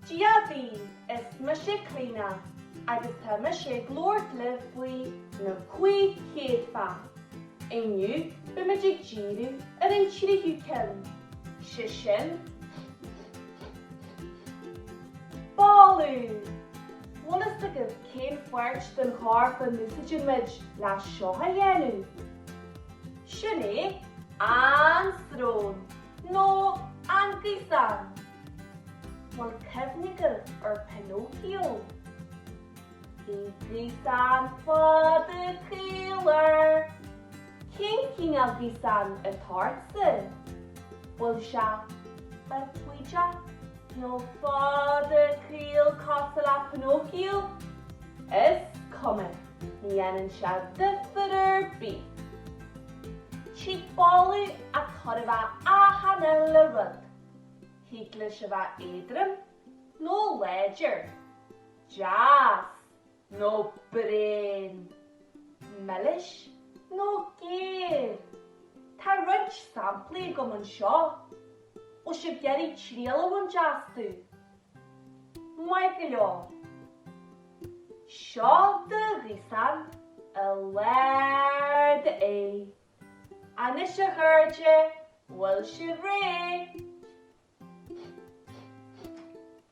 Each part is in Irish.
Dia daoibh, is mise Cliodhna agus tá mise ag labhairt libh faoi na cúig chéadfa. Inniu beimid ag díriú ar an tríú ceann, sé sin, boladh! Bhfuil fhios agaibh Cén pháirt den chorp a n-úsáidimid le seo a dhéanamh? Sin é an srón, nó an gaosán. Bhuel, cuimhnigí ar Pinocchio. Bhí gaosán fada caol air. Cén cineál gaosán atá ortsa? Bhfuil sé bídeach nó fada caol cosúil le Pinocchio? Is cuma, ní dhéanann sé difir ar bith. Tig boladh ó chóir a bheith achan uile rud. Thig leis a bheith éadrom nó láidir. Deas! nó bréan, milis nó géar. Tá roinnt samplaí agam anseo bhfuil sibh ag iarraidh triail a bhaint astu. Maith go leor. Seo do ghaosán i lár d'aghaidh. Anois a chairde, bhfuil sibh réidh?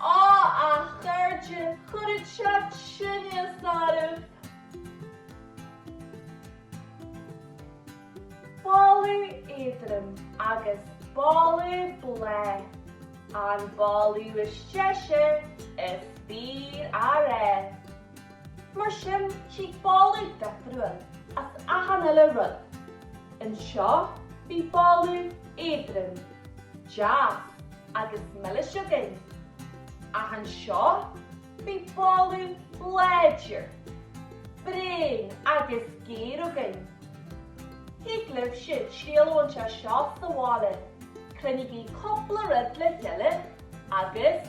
Á, a chairde, chuirfeadh sé tinneas oraibh! Boladh éadrom agus boladh bláith. An boladh is deise is féidir. Mar sin, tig boladh difriúil as achan uile rud. Anseo, bhí boladh éadrom, deas agus milis againn, ach anseo, bhí boladh láidir, bréan agus géar againn. Thig libhse triail a bhaint as seo sa bhaile, cruinnigí cúpla rud le chéile agus.